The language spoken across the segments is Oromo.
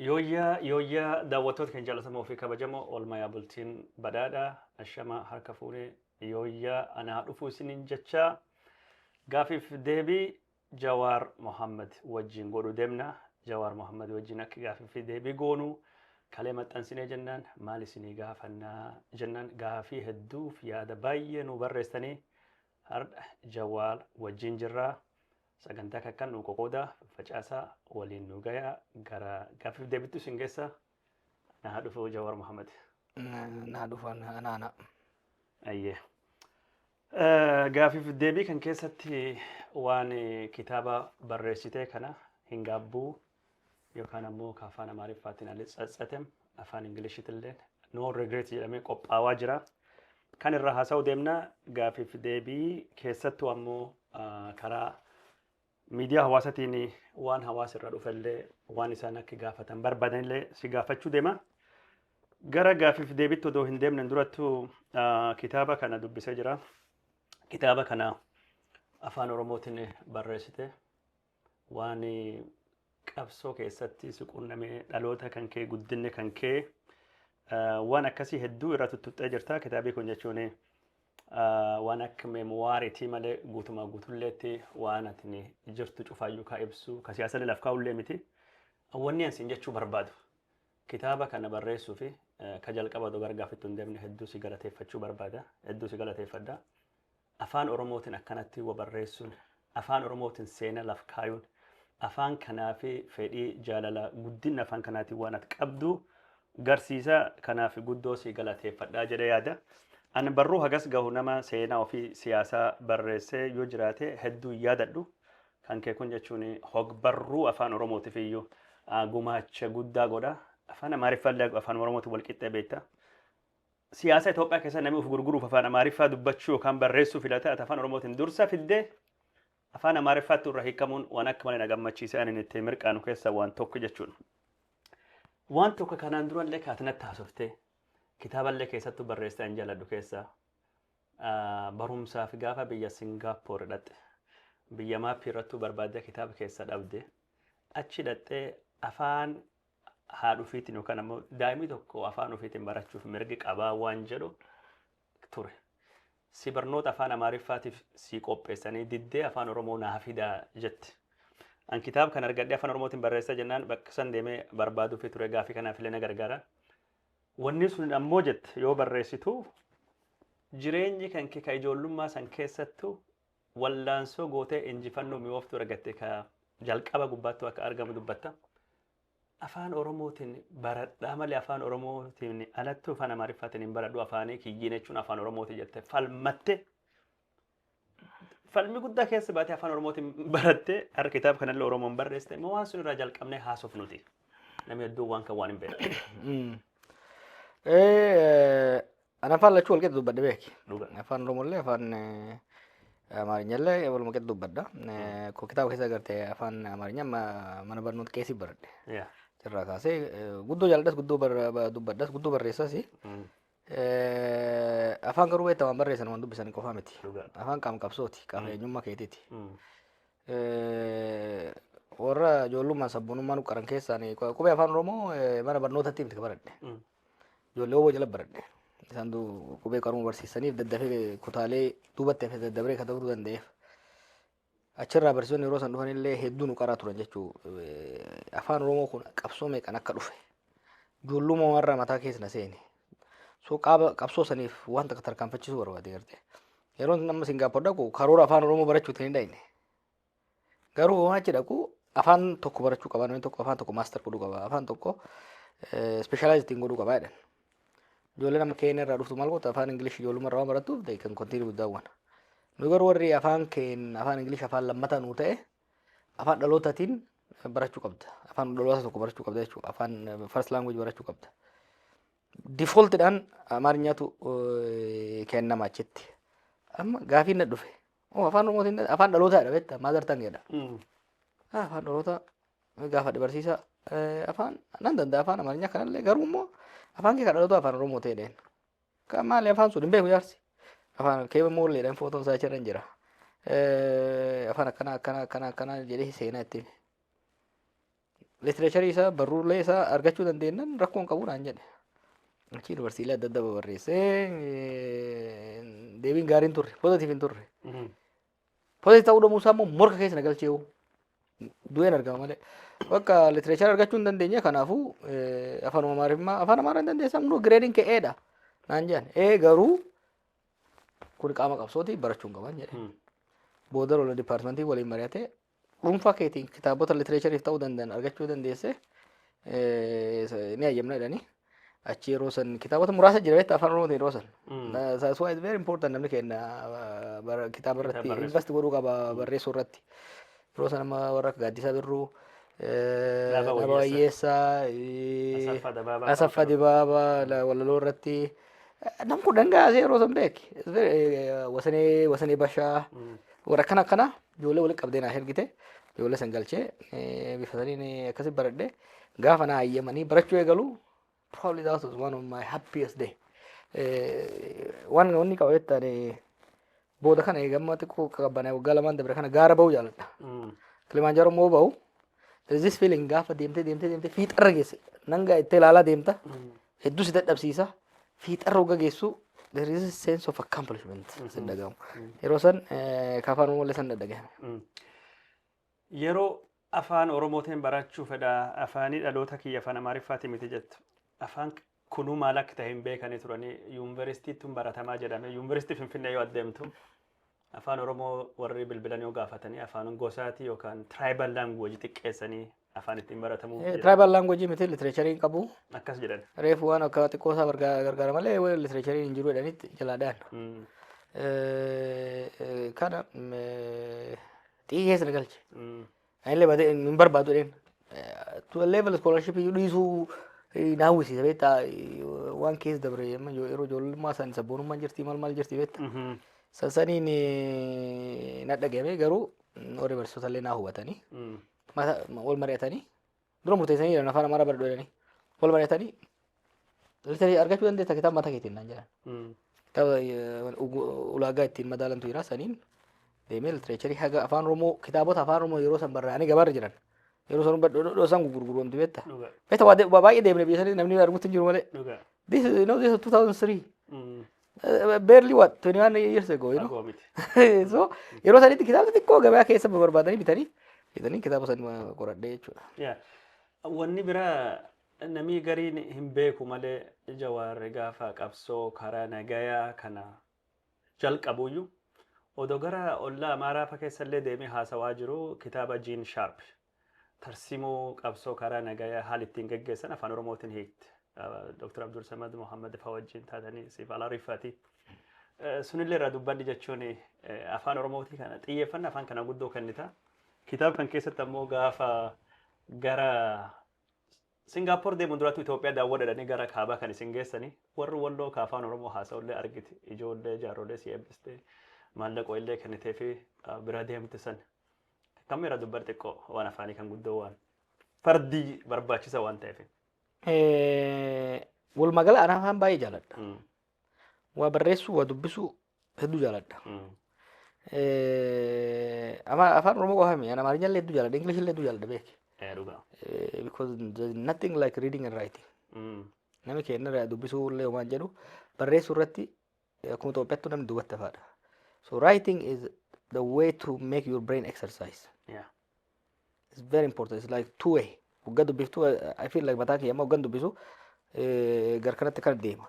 Yooyyaa yooyyaa daawwattoota keenya jaalatamoo fi kabajamoo oolmayaa bultiin badhaadha ashama harka fuune yooyyaa anaa dhufuu isiniin jechaa gaafiif deebii Jawaar Mohammed wajjin godhu deemna Jawaar Mohammed wajjin akka gaafii fi deebii goonu kalee maxxansinee jennaan maal isinii gaafannaa jennaan gaafii hedduuf yaada baay'ee nu barreessanii har'a Jawaar wajjin jirraa Sagantaa kakkan nuu qoqoodaa, faffacaasaa, waliin nuu gayaa, gara gaaffiif deebittu isin geessa. Anaa haa dhufu Jawaar Mohammed. Naa dhufan anaana. Ayyee. Gaaffiif deebii kan keessatti waan kitaaba barreessitee kana hin gaabbuu yookaan ammoo ka afaan Amaariffaatiin Alice Tsatsetem afaan Ingilishitiilleen No Regret jedhamee qophaawaa jira. Kan irraa haasa'uu deemna gaafiif deebii keessattuu ammoo ah, karaa miidiyaa hawaasatiin waan hawaasa irra dhufellee waan isaan akka gaafatan barbaadanillee si gaafachuu deema. Gara gaafiif deebitti odoo hin deemnen durattuu ah, kitaaba kana dubbisee jira. Kitaaba kana afaan Oromootiin barreessite. Waan qabsoo keessatti si quunname dhaloota kan kee guddinni kan kee waan akkasii hedduu irra tuttuqxee jirta. Kitaabii kun jechuun waan akka meemuwaariitii malee guutumaa guutulleetti waan atni jirtu cufaayyuu kaa ibsu ka siyaasallee laf kaa'ullee miti. Wanni ansiin jechuu barbaadu kitaaba kana barreessuu fi ka jalqaba odoo gargaafittu hin deemne hedduu si galateeffachuu barbaada. Hedduu si galateeffadha. Afaan Oromootin akkanatti wa barreessun, Afaan Oromootin seena laf kaayun, Afaan kanaafi fedhii, jaalala, guddinna Afaan kanaatin waan ati qabdu garsiisa, kanaafi guddoo si galateeffadha jedhe yaada. An barruu hagas gahu nama seenaa ofii siyaasaa barreessee yoo jiraate hedduu hin yaadadhu. Kan kee kun jechuun hogbarruu Afaan Oromootif iyyuu gumaacha guddaa godha. Afaan Amaariffaallee Afaan Oromootin wal qixxee beekta. Siyaasa Itoophiyaa keessatti namni of gurguruuf afaan Amaariffaa dubbachuu yookaan barreessuu filate ati afaan Oromootiin dursa fidde afaan Amaariffaatti irra hiikamuun waan akka malee na gammachiise ani itti mirqaanu keessaa waan tokko jechuun. Waan tokko kanaan durallee kaati natti haasofte kitaaballee keessattuu barreessite an jaaladhu keessaa ah, barumsaaf gaafa biyya Singaapoor dhaqxe biyya maappii irrattuu barbaadde kitaaba keessa dhabde achi dhaqxee afaan haadha ofiitiin yookaan ammoo daa'imni tokko afaan ofiitiin barachuuf mirgi qabaa waan jedhu ture. Si barnoota afaan Amaariffaatiif si qopheessanii diddee afaan Oromoo naa fidaa jetti. An kitaaba kan argadhee afaan Oromootiin barreessaa jennaan bakka san deemee barbaaduufi ture gaafii kanaaf illee na gargaara. Wanni sun ammoo jette yoo barreessitu jireenyi kan kee ka ijoollummaa san keessattu Wallaansoo gootee injifannoo mi'ooftuu argatte ka jalqaba gubbaattuu akka argamu dubbatta. Afaan Oromootiin baradhaa malee Afaan Oromootiin alattuu Afaan Amaariffaatiin hin baradhu afaanii kiyyiin jechuun Afaan Oromooti jette falmatte. Falmi guddaa keessa baatee Afaan Oromootiin barattee har'a kitaaba kanallee Oromoon barreessite immoo waan sun irraa jalqabnee haasofnuti. Namni hedduun waan kan waan hin beekne. An afaan lachuu walqixa dubbadhe beeki. Dhuga. Afaan Oromollee afaan eh, Amaarinyallee waluma qixa dubbadha. Eh, Koo kitaaba keessa garte afaan Amaarinya ma- mana barnoota keessi baradhe. Yeah. Irraa kaasee eh, guddoo jaalladhas guddoo bar- ba- dubbadhas guddoo barreessas. Mm. Eh, Afaan garuu beektaa waan barreessan waan dubbisan qofaa miti. Dhuga. Afaan qaama qabsooti qaama eenyummaa keetiiti. Mm. Eh, Warra ijoollummaan sabboonummaan qaran keessaan qubee afaan Oromoo eh, mana barnootatti miti baradhe. Mm. Ijoollee oboo jala baradhe. Isaan qubee qaruu barsiisaniif daddafee kutaalee duubatti hafe daddabree kan ta'uu danda'eef. Achirraa barsiisonni yeroo san dhufan illee hedduu nu qaraa turan jechuu afaan Oromoo kun qabsoo meeqan akka dhufe. Ijoollummaa warra mataa keessa na seene. So qaaba qabsoo saniif wanta akka tarkaanfachiisuu barbaade garte. Yeroo namni Singaappoor dhaqu karoora afaan Oromoo barachuutiin hin dhaqne. Garuu homaa achi dhaqu afaan tokko barachuu qaba namni tokko afaan tokko maastar godhuu qaba afaan tokko ispeeshaalaayiz ittiin godhuu qaba jedhan. Ijoolleen amma keenya irraa dhuftu maal gootu afaan Ingilish ijoollummaa irraa waan barattuuf they can continue with that one. Nu garuu warri afaan keenya afaan Ingilish afaan lammataa nuu ta'e afaan dhalootaatiin barachuu qabda. Afaan dhaloota tokko barachuu qabda jechuudha. Afaan first language barachuu qabda. Defaultidhaan Amaariffaatu kennama achitti. Amma gaafiin na dhufe. Moo afaan Oromootiin afaan dhalootaadha beektaa maadar tangeedha. Ah, Afaan dhalootaa gaafa barsiisaa eh, afaan nan danda'a afaan amaarinyaa kanallee garuu immoo afaan kee kan dhalootaa afaan Oromoo ta'e dheen. Kan maali afaan sun hin beeku jaarsi. Afaan kee moolleedhaan footoon isaa achirra hin jira. Eh, Afaan akkanaa akkanaa akkanaa akkanaa jedhee seenaa itti hime. Literacharii isaa barruulee isaa argachuu dandeenyaan rakkoo hin qabu naan jedhe. Achi yuunivarsiitii adda addaa barreessee deebiin gaariin turre poozitiif hin turre. Poozitiif ta'uu dhabuu isaa immoo morka keessa na galchee hoo. Du'een argama malee. Bakka literacharii argachuu hin dandeenye kanaafuu afaan amaaraa afaan amaaraa hin dandeessaa hunduu gireediin kee eedha naan jedhan. Ee garuu kun qaama qabsooti barachuun qaban jedhe. Booda lola dipaartimentii waliin mari'atee dhuunfaa keetiin kitaabota litireechariif ta'uu danda'an argachuu dandeesse eh, ni hayyamna jedhanii achi yeroo san kitaabota muraasa jira beektaa afaan oromootiin yeroo san. Mm. Na- That's why it's very important namni keenya uh, bara- kitaaba irratti barreessu. invest godhuu qaba barreessuu irratti. Yeroo san amma warra akka Gaaddisaa Birruu, eh, Dhaaba Dhaaba Wayyeessaa, Wayyeessaa, eh, Asaffaa Dabaabaa Asaffaa fa'aa. Dibaabaa la- walaloo irratti eh, nam kun dhangaasee yeroo san beeki. It's very, eh, Wasanee Wasanee Bashaa Mm. warra akkana akkana Ijoollee walitti qabdee naaf ergite ijoollee san galchee bifa saniin akkasi baradhe gaafa naa hayyamanii barachuu eegalu probably that was one of my happiest day waan wanni qaba jettaan booda kana eegamma xiqqoo qaqqabbanee waggaa lamaan dabre kana gaara ba'uu jaaladha kilimaanjaaroo immoo ba'u there is this feeling gaafa deemtee deemtee deemtee fiixarra geesse nangaa itti ilaalaa deemta Hedduu si dadhabsiisa. Fiixarra hogga geessu there is a sense of accomplishment sin dhagahamu. Yeroo san eh, ka afaan Oromoolee san dhadhagahame. Mm. Yeroo afaan Oromootiin barachuu fedha afaanii dhaloota kiyya afaan Amaariffaati miti jettu. Afaan kunuu maal akka ta'e hin beekanii turanii yuunivarsiitiitti hin baratamaa jedhame. Yuunivarsiitii Finfinnee yoo adeemtu Afaan Oromoo warri bilbilan yoo gaafatanii afaan gosaati yookaan tribal language xiqqeessanii afaan ittiin baratamu jedhan. Tribal language miti literature hin qabu. Akkas jedhan. Reefu waan akka xiqqoo isaa bargaa- gargaara malee waan literature hin jiru jedhanitti jalaa dhayan. Mm, Eh, eh, Kana mm, eh, xiyyee keessa na galche. mm, Anillee badee hin barbaadu jedheen. To a level scholarship iyyuu dhiisuu eh, na hawwisiisa beektaa eh, waan keessa dabre amma yoo- yeroo ijoollummaa san sabboonummaan jirti maal maal jirti beektaa. Mhm. San saniin eh, na dhagahame garuu mm, warri barsiisota illee na hubatanii Mm. mata wal mari'atanii dura murteessanii jiran afaan amaaraa baradhu jedhanii wal mari'atanii litarii argachuu dandeessa kitaaba mataa keetiin naan jedhan kitaaba eh, ugu- ulaagaa ittiin madaalantu jira saniin deemee litireecharii haga afaan oromoo kitaabota afaan oromoo yeroo san barraa'anii gabaarra jiran yeroo san badhodhodhoo san gurgurgurumti beekta dhuga beekta waa de- waa baay'ee deemne biyya sanii namni argutti hin jiru malee dhuga this you know this is 2003 Eh, barely what 21 years ago you know Fagoo miti. so yeroo sanitti kitaabni xiqqoo gabaa keessa barbaadanii bitanii bitanii kitaaba san qoradhee jechuudha Yeah. Wanni biraa namni gariin hin beeku malee jawaarri gaafa qabsoo karaa nagayaa kana jalqabuyyuu odoo gara ollaa amaaraa fa keessallee deemee haasawaa jiru kitaaba Jiin Shaarp Tarsimoo qabsoo karaa nagayaa haal ittiin geggeessan afaan Oromootiin hiikte. Dr. Abdul Samad Mohammed faa wajjin taatanii siif ala riffati. Sunillee irraa dubbadhi jechuun afaan Oromootii kana xiyyeeffanna afaan kana guddoo kennita. Kitaaba kan keessatti ammoo gaafa gara Singaapoor deemuun duraatu Itoophiyaa daawwadhadhanii gara kaabaa kan isin geessanii warri walloo ka afaan Oromoo haasa'ullee argite ijoollee jaarrolee si eebbiste maallaqoo illee kennitee fi bira deemte san Kammi irra dubbar xiqqoo waan afaanii kan guddoo waan fardii barbaachisa waan ta'eef. Walumaa gala anaa afaan baay'ee jaaladha. Mm. Waa barreessuu, waa dubbisuu hedduu jaaladha. Mm. Eh, ama- Afaan Oromoo qofa miti. Ani Amaarinya illee hedduu jaaladha. English illee hedduu jaaladha beeki. Eh, Dhugaa. Eh, Because there's nothing like reading and writing. Mm. Nami keenya irraa dubbisuu illee waan jedhu barreessuu irratti akkuma Itoophiyaattuu namni duubatti hafaadha. So writing is the way to make your brain exercise. Yeah. It's very important. It's like two way. Waggaa dubbiftuu I feel like mataa kiyya amma waggaan dubbisu eh, gar kanatti kan deema.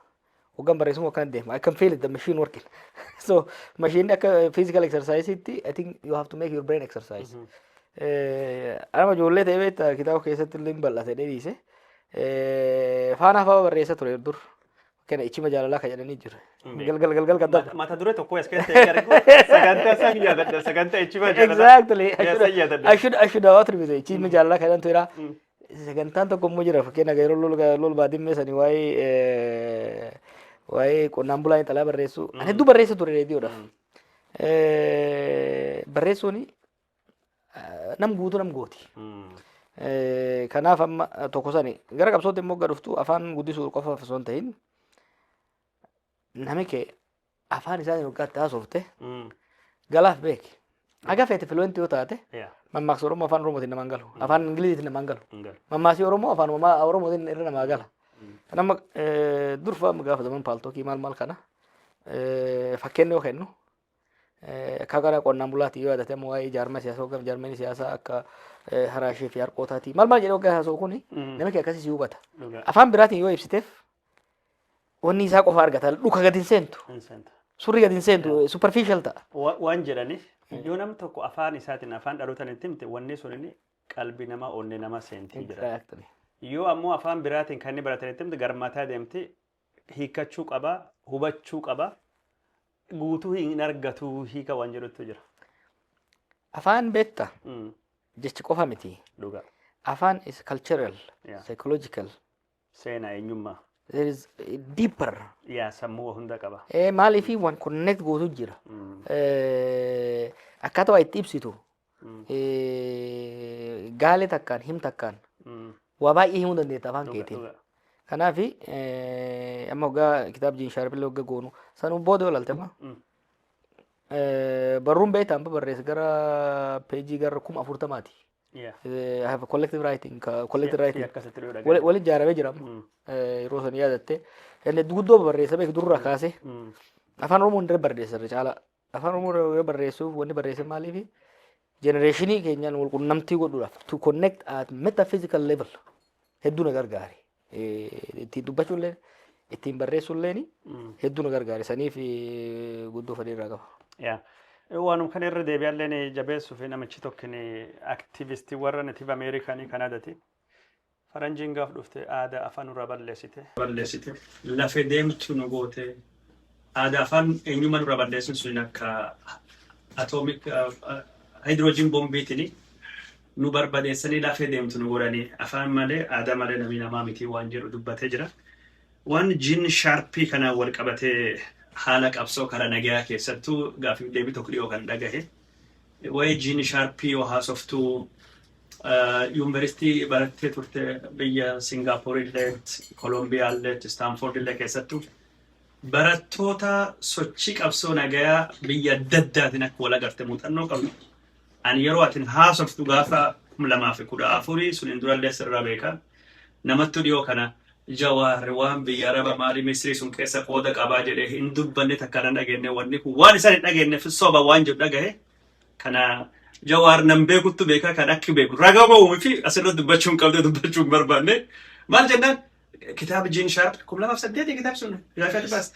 Waggaan barreessuun akkan deema. I can feel it the machine working. so machine akka physical exercise itti I think you have to make your brain exercise. Eh, Anama ijoollee ta'ee beektaa kitaaba keessatti illee hin bal'ate dheeriise. Eh, Faanaa fa'aa barreessa ture dur. Kana ichima jaalalaa ka jedhanii jira. Galgal galgal kan dabra. Mata dure tokko as keessatti eegaa argu sagantaa san yaadadha sagantaa ichima jaalalaa. Exactly. Yaa san yaadadha. Ashu ashu dawaa turbise ichima jaalalaa kan jedhantu jira. Mm. Sagantaan tokko immoo jira fakkeenya yeroo lol lol baadimmee sanii waa'ee eh, waa'ee qonnaan bulaa intalaa barreessu. Ani hedduu barreessa ture reediyoodhaaf. Eh, Barreessuun nam guutu nam gooti. Kanaaf amma tokko sani gara qabsootti immoo gadhuftu afaan guddisuu qofa osoo hin ta'in nami kee afaan isaanii waggaatti haasofte galaaf beeki. Haga feete filuwentii yoo taate mammaaksa Oromoo afaan Oromootiin namaan galu. Afaan Ingiliziitiin namaan galu. Mammaasii Oromoo afaan Oromootiin irra namaa gala. Kan amma durfa amma gaafataman paaltookii maal maal kana fakkeenya yoo kennu Akka gara qonnaan bulaatti yoo yaadate immoo waa'ee jaarmaa siyaasaa hogganf jaarmeen siyaasaa akka haraashee fi harqootaati. Maal maal jedhee hoggaa haasa'u kuni namichi akkasii si hubata. Afaan biraatiin yoo ibsiteef wanni isaa qofa argata. Dhuka gadi hin seentu. Surri gadi hin seentu. Superficial ta'a. Waan jedhaniif yoo nam tokko afaan isaatiin afaan dhalootaan itti himte wanni sun inni qalbii namaa onnee namaa seentii jira. Yoo ammoo afaan biraatiin kan inni baratan itti himte garmataa deemti hiikkachuu qaba, hubachuu qaba. Guutuu hin argatu hiika waan jedhutu jira. Afaan beekta Mm, jechi qofa miti. Dhugaa. Afaan is cultural, Yeah. psychological. Seenaa eenyummaa. There is eh, deeper. Yaa sammuu hunda qaba. Eh, Maaliif waan connect gootu jira. Mm, Eh, Akkaataa waa itti ibsitu eh, gaalee takkaan him takkaan waa baay'ee himuu dandeetta afaan keetiin. Kanaaf eh, amma hoggaa kitaab jiin shaarbillee hogga goonu sanuu booda olalte amma eh, barruun beektaa amma barreesse gara peejii gara kuma afurtamaati. Eh, I have a collective writing, ka- collective writing. akkasitti dhuu Wali- Waliin ijaaramee jira amma. Eh, yeroo san yaadatte. Inni guddoo barreessa beeku durraa kaasee. Afaan Oromoo hundee barreessa irra caalaa. Afaan Oromoo irra yoo barreessuuf wanni barreessan maaliifi? Jenereeshinii keenyaan wal qunnamtii godhuudhaaf to connect at metaphysical level hedduu na gargaare. Eh, Ittiin dubbachuu illee ittiin barreessuu illee hedduu na gargaare. Saniif eh, guddoo fedhii irraa qaba. Yaa. Waanum kana irra deebi'allee ni jabeessuuf namichi tokkin aktivistii warra Native Ameerikaanii Kanaadati. Faranjiin gaaf dhufte aada afa nura ballesite. ballesite lafe demtu nu gote aada afan enyuma nura ballesun sunin akka atomic hydrogen bombitini nu barbadesani lafe demtu nu godhani afan male aada male nami nama miti wan jedhu dubbate jira wan jin sharpi kanan wal qabate hala qabso kara nagaya kessattu gafif debi tokk dhiyo kan dhagahe Waa'ee Jiini Shaarpii yoo haasoftu yuunivarsiitii barattee turte biyya Singaapoor illee, Kolombiyaa illee, Istaanfoord illee keessattu barattoota sochii qabsoo nagayaa biyya adda addaatiin akka wal agarte muuxannoo qabdu. Ani yeroo atin haasoftu gaafa kuma lamaa fi kudha afurii suniin durallee sirraa beeka. Namattu dhiyoo kana Jawaar waan biyya araba mali misri sun kessa qooda qaba jedhe hin dubbanne takka nan dhagenne wanni kun waan isan hin dhagennef soba waan jedhu dhagahe kana jawaar nan beekuttu beeka kan akki beeku raga ba'u miti asirra dubbachuu hin qabde dubbachuu hin barbaanne maal jennaan kitaaba jiin shaarp kum lamaaf saddeeti kitaab sun gaafatti baas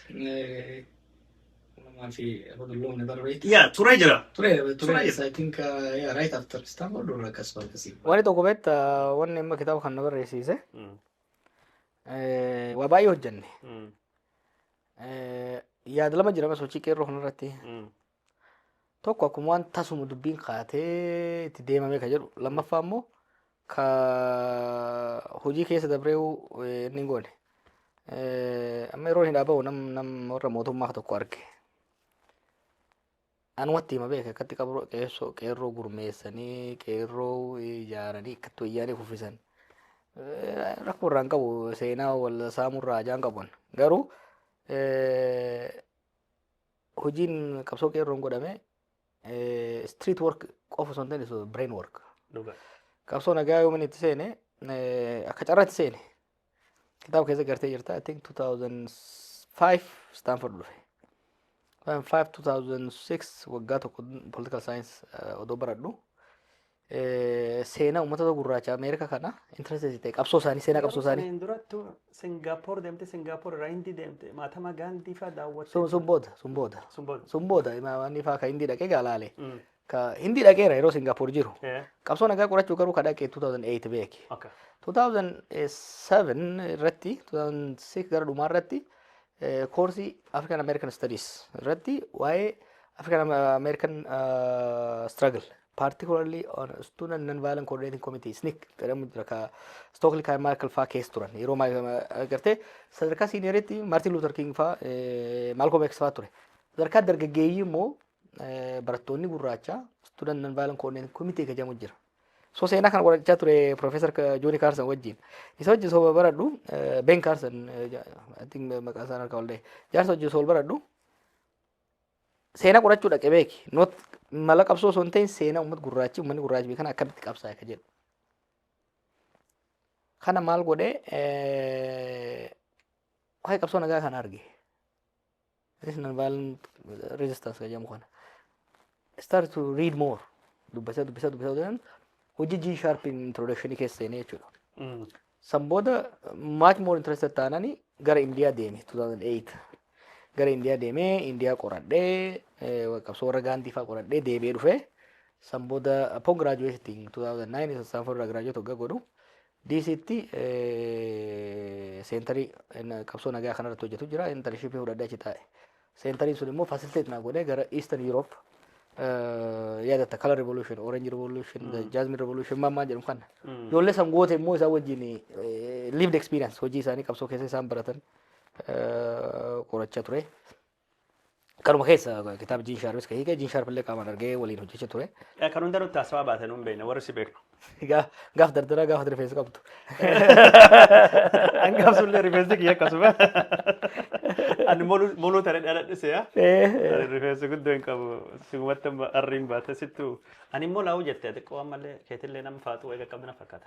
Lamaa fi hodolloon ni barreetti. yaa turee jira Ture, Ture. ture, I think, uh, yeah, right after Stanford or akkas akkasii. Wanni tokko beekta wanni amma kitaaba kana barreessiise Eh, Waa baay'ee hojjenne. Mm. Eh, Yaada lama jira sochii qeerroo kanarratti. Mm. Tokko akkuma waan tasuma dubbiin kaatee itti deemamee ka jedhu. Lammaffaa immoo ka hojii keessa dabree eh, inni hin goone. Eh, Amma yeroo hin dhaaba'u nam nam warra mootummaa tokko arge. Anumatti hima beeke akkatti qabroo qeessoo qeerroo gurmeessanii qeerroo ijaaranii akkatti wayyaanee kuffisan. Rakkoo irraa hin qabu seenaa wal saamuu irraa ajaa hin qabu. Garuu hojiin qabsoo qeerroon godhame street work qofa osoo hin taane brain work. Qabsoo nagaa yoomin itti seene akka carraatti seene kitaaba keessa gartee jirta I think 2005 Stanford dhufe 2005 2006 waggaa tokko political science eh, odoo baradhu eh, seenaa uummata gurraacha Ameerika kana interested ta'e qabsoo isaanii seenaa qabsoo isaanii Saniin durattu Singaapoor deemte Singaapoor irraa Hindii deemte Mahatma Gaandii fa'aa daawwatte. sun sun booda sun booda Sun booda. sun booda imaamanii fa'aa kan hindii dhaqee gaalaale Mm. Ka Hindi dhaqeera yeroo Singapore jiru. Yeah. Qabsoo nagaa qorachuu garuu ka dhaqe 2008 beeki. Okay. 2007 irratti 2006 gara dhumaa irratti eh, koorsii African American Studies irratti waa'ee African American uh, struggle particularly on student non-violent coordinating committee SNCC jedhamu jira ka Stokely kan Michael faa keessa turan yeroo ma- ma- agartee sadarkaa siiniyeeritti Martin Luther King faa eh, Malcolm X faa ture sadarkaa dargaggeeyyii immoo barattoonni gurraacha student non violent coordinating committee ka jedhamu jira. So seenaa kana qorachaa ture Professor Jooni Kaarsan wajjin. Isa wajjin osoo baradhu Ben Kaarsan I think maqaa isaan harkaa ollee jaarsa wajjin osoo baradhu seenaa qorachuu dhaqe beeki. Not mala qabsoo osoo hin ta'in seenaa uummata gurraachi uummanni gurraachi beekan akkamitti qabsaa'e ka jedhu. Kana maal godhee waa'ee qabsoo nagaa kana arge. This nonviolent resistance kan jedhamu kana. Start to read more. Dubbisa dubbisa dubbisa dubbisa. Hojii G sharp introduction keessa seenee jechuudha. Mm. San booda much more interested taanani gara Indiyaa deeme 2008. Gara Indiyaa deemee Indiyaa qoradhee eh, qabsoo warra gaandii fa'aa qoradhee deebi'ee dhufee san booda upon graduating 2009 Stanford irraa graduate hoggaa godhu Diisiitti seentarii qabsoo nagaa kanarratti hojjetu jira. Intarnshiippii fudhadhee achi taa'e. Seentariin sun immoo fasiliteet naa godhee gara Eastern Europe yaadatta Color Revolution, Orange Revolution, hmm. Jasmine Revolution maammaa jedhamu kana. Hmm. Ijoollee san goote immoo isaan wajjin lived experience hojii isaanii qabsoo keessa isaan baratan qorachaa ture. Kanuma keessa kitaaba Jiin Shaarpis ka hiike, Jiin Shaarpillee qaamaan argee waliin hojjecha ture. Eh, Kan hunda nutti haasawaa baate nuun beekna warri si beeknu. Gaa- Gaaf dardaraa gaaf rifeensa qabdu. Hangaaf sullee rifeensi kiyya akkasuma. Ani moluu moluu tare dhaladhise yaa. Ani rifeensi guddoo hin qabu. Sumatti amma arriin baate sittu. Ani immoo laawuu jette xiqqoo ammallee keetillee nama faaxuu eega qabdu na fakkaata.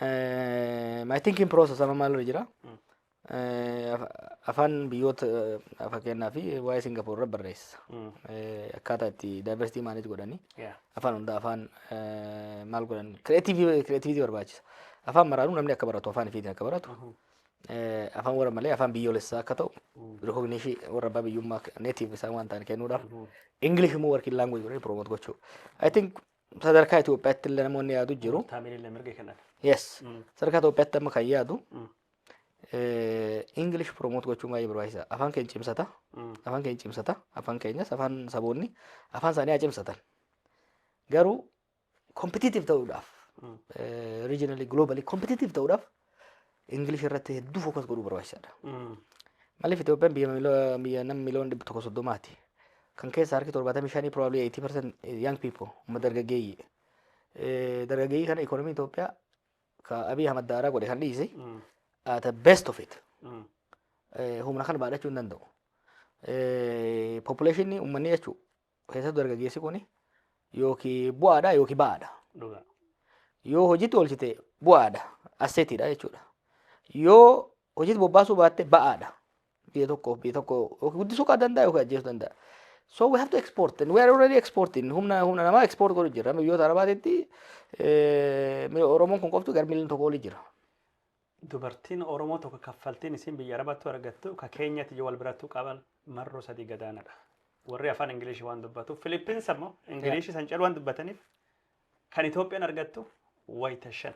I think in process amma maalirra jira. Eh, af- Afaan biyyoota eh, fakkeenyaa fi waa'ee Singapoor irra barreessa. Eh, Akkaataa itti diversity manage godhanii Yeah. afaan hundaa afaan eh, maal godhan creativity creativity barbaachisa. Afaan maraanuu namni akka baratu afaan ifiitiin akka baratu. Eh, Afaan warra malee afaan biyyoolessaa akka ta'u recognition warra abbaa biyyummaa native isaan waan ta'an kennuudhaaf. English immoo working language godhanii promote gochuu. I think Sadarkaa Itoophiyaatti illee namoonni yaadu jiru. Taamiilillee mirga kennan. Yes. Mm. Sadarkaa Itoophiyaatti amma kan yaadu Mm. English promote gochuun baay'ee barbaachisa. Afaan keenya cimsata. Mm. Afaan keenya cimsata. Afaan keenyas afaan saboonni afaan isaanii haa cimsatan. Garuu competitive ta'uudhaaf Mm. regionally globally competitive ta'uudhaaf Ingilish irratti hedduu fookas godhuu barbaachisaadha. Maaliif Itoophiyaan biyya miloo- biyya nama miliyoona dhibba tokko soddomaati. Kan keessa harki torbaatamii shanii probably 80% young people umma dargaggeeyyii. Eh, Dargaggeeyyii kana ikoonomiin Itoophiyaa ka Abiy Ahmad daaraa godhe kan dhiise at the best of it. Eh, Humna kana baadhachuu hin danda'u. Eh, Population ummanni jechuun Keessattuu dargaggeessi kun yookiin bu'aadha yookiin ba'aadha. Dhugaa. Yoo hojiitti oolchite bu'aadha. Asseetiidha jechuudha. Yoo hojiitti bobbaasuu baatte ba'aadha. Biyya tokko biyya tokko yookiin guddisuu kan danda'a yookiin ajjeesuu danda'a. So we have to export and we are already exporting. Humna humna namaa export godhu jira. Biyyoota arabaatitti eh, Oromoon kun qoftu gara miliyoona tokko olii jira. Dubartiin oromoo tokko kaffaltiin isiin biyya arabattu argattu ka keenyatiyyu wal birattu qaban marroo sadii gadaanadha. Warri afaan ingiliishi waan dubbatuuf Filippins ammoo ingiliishi san calu waan dubbataniif kan Itoophiyaan argattu wayita shan.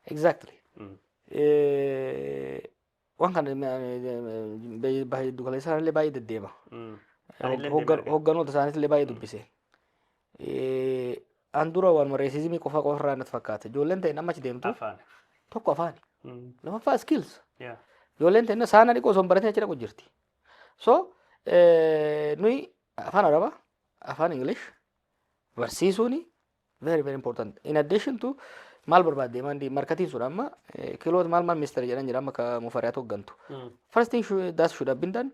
Exactly. Mm. Eh, Waan kana baay'ee dugaleessaa illee baay'ee deddeema. Mm. Anillee Hoggan- deemaa Hogganoota isaaniitti illee baay'ee dubbise. An dura waanuma reesizimii qofa qofa irraa natti fakkaata. Ijoolleen ta'in amma achi deemtu Afaan. tokko afaani. Mm. Lammaffaa skills. Yeah. Ijoolleen ta'in saana dhiqoo osoo hin baratin achi dhaqu jirti. So eh, nuyi afaan Arabaa, afaan English barsiisuuni very very important. In addition to maal barbaadde maandii markatiin sun amma eh, kiloot maal maal ministeera jedhan jira amma ka mufariyaatu hoggantu. Mm. First thing should, that should have been done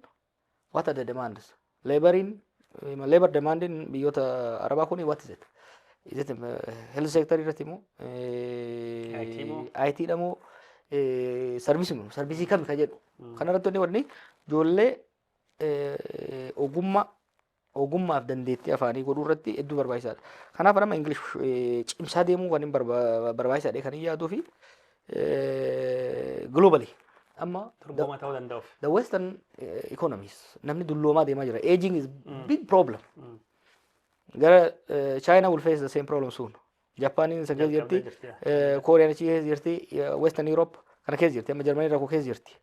What are the demands? Laboriin, labor demandiin biyyoota Arabaa kun what is it? Is it uh, health sector irratti moo? IT moo? IT dha moo? Sarvisii moo? Sarvisii kami ka jedhu. Kanarratti wanni wanni ijoollee eh, ogummaa ogummaaf dandeettii afaanii godhuu irratti hedduu barbaachisaadha. Kanaaf nama Ingilish cimsaa deemuu kan hin barbaachisaadha kan hin yaaduu fi globally amma Dorgomaa ta'uu danda'uuf. the western eh, economies namni dulloomaa deemaa jira aging is big problem Mm. gara eh, china will face the same problem soon japaaniin isa keessa jirti Jalqabdee jirti, eh, kooriyaan achi keessa jirti eh, western europe kana keessa jirti amma jarmanii rakkoo keessa jirti